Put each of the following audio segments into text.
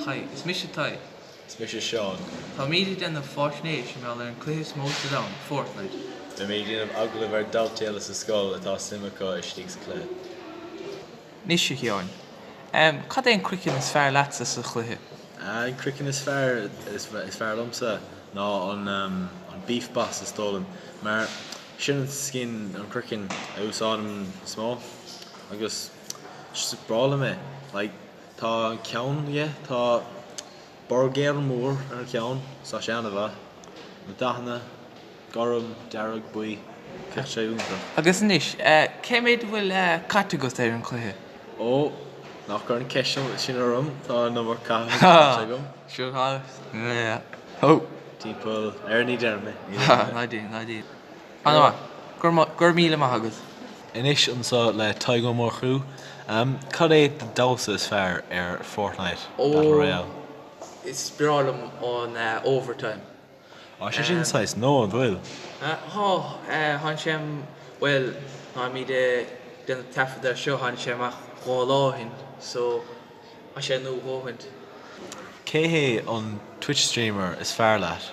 Hi, is mise Tadhg. Is mise Seán. Táimid ag déanamh faisnéis mar gheall ar an cluiche is mó sa domhan, Fortnite. Beimid ag déanamh agallaimh ar dhaltaí eile sa scoil atá suim acu istigh sa cluiche. Anois, a Sheáin, cad é an croiceann is fearr leatsa sa chluiche? An croiceann is fearr is fearr liomsa ná an an Beef Boss is dóigh liom mar sin an skin an croiceann a úsáidim is mó agus just is breá liom é like. Tá ceann aige, tá burger mór ar a cheann so, sé an-mhaith. Na dathanna, gorm, dearg, buí, bheadh sé iontach. Agus anois, cé méid a bhfuil caite agat ar an chluiche? Ó, ná cuir an cheist sin orm, tá an iomarca caite agam. Sure tá, yeah, oh. Timpeall, ar ní déarfaidh mé, ní déarfaidh mé. Ná déan, ná déan. Ana mhaith. Go raibh míle maith agat. Anois anseo le Tadhg Ó Murchú. Cad é do damhsa is fearr ar Fortnite Battle Royale? Is breá liom an Overtime. Tá sé sin saghas nua, an bhfuil? Tá. Tháinig sé, bhuel, táimid ag déanamh taifead air seo, tháinig sé amach dhá lá ó shin so tá sé nua dhóthain. Cé hé an Twitch streamer is fearr leat?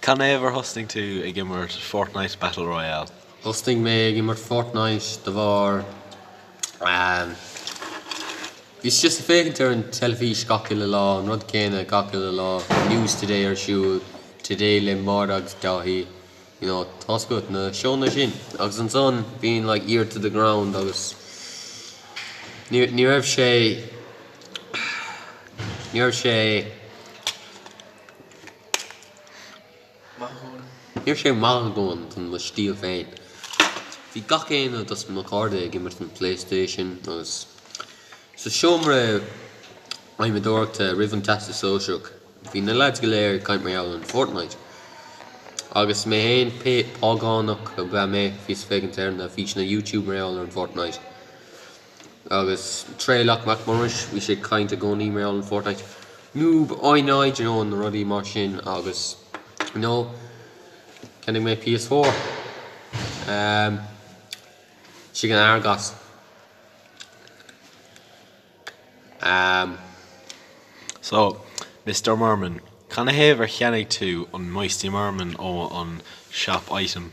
Canathaobh ar thosnaigh tú ag imirt Fortnite Battle Royale? Thosnaigh mé ag imirt Fortnite de bharr bhíos just ag féachaint ar an teilifís gach uile lá, an rud céanna gach uile lá, News Today ar siúl, Today le Maura agus Dáithí, you know, tá's agat, na seónna sin. Agus ansan bíonn like Ear to the Ground agus ní raibh sé ní raibh sé Ní raibh sé maith a dhóthain don mo stíl féin. Bhí gach éinne dos mo cairde ag imirt an Playstation agus sa seomra adhmadóireachta roimh an Teastas Sóisearach bhí na leaids go léir ag caint mar gheall an Fortnite. Agus mé féin, págánach ab ea mé, bhíos ag féachaint ar na físeanna YouTube mar gheall ar an Fortnite. Agus Traolach Mac Muiris bhí sé ag caint i gcónaí mar gheall an Fortnite Noob I know do you know na rudaí mar sin agus you know ceannaigh mé PS4 ehm istigh in Argos ehm. So, Mister Merman, canathaobh ar cheannaigh tú an Moisty Merman ó an Shop Item?